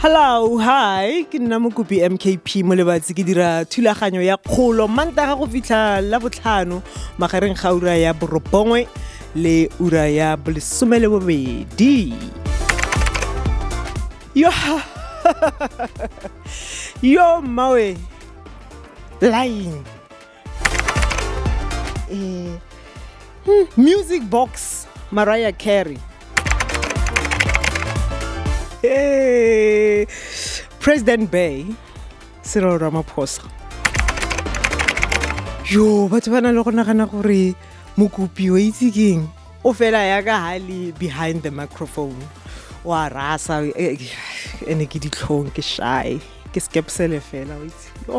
Hello, hi, ke nna mokopi MKP mo lebatsi ke dira thulaganyo ya kgolo mantaga go fitlha la botlhano magareng ga ura ya borobongwe le ura ya bolesome le bobedi. Yo, yo mmawe, line. Eh, hmm, music box mariah carey Eh, president bay cyril ramaphosa yo batho ba na le go nagana gore mokopi wa itse keng o fela ya ka ha le behind the microphone wa rasa eh, ene ke ditlhong ke shy ke skepsele fela wa itse yo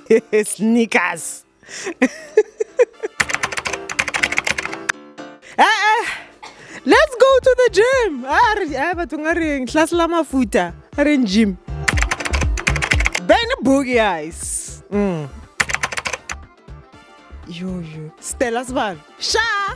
Snickers. Eh, eh. Let's go to the gym. Ah, re- ah, batho nga reng tlase la mafuta a reng gym. Ben boogie eyes. Mm. Yo yo. Stella Sibalo. Sha.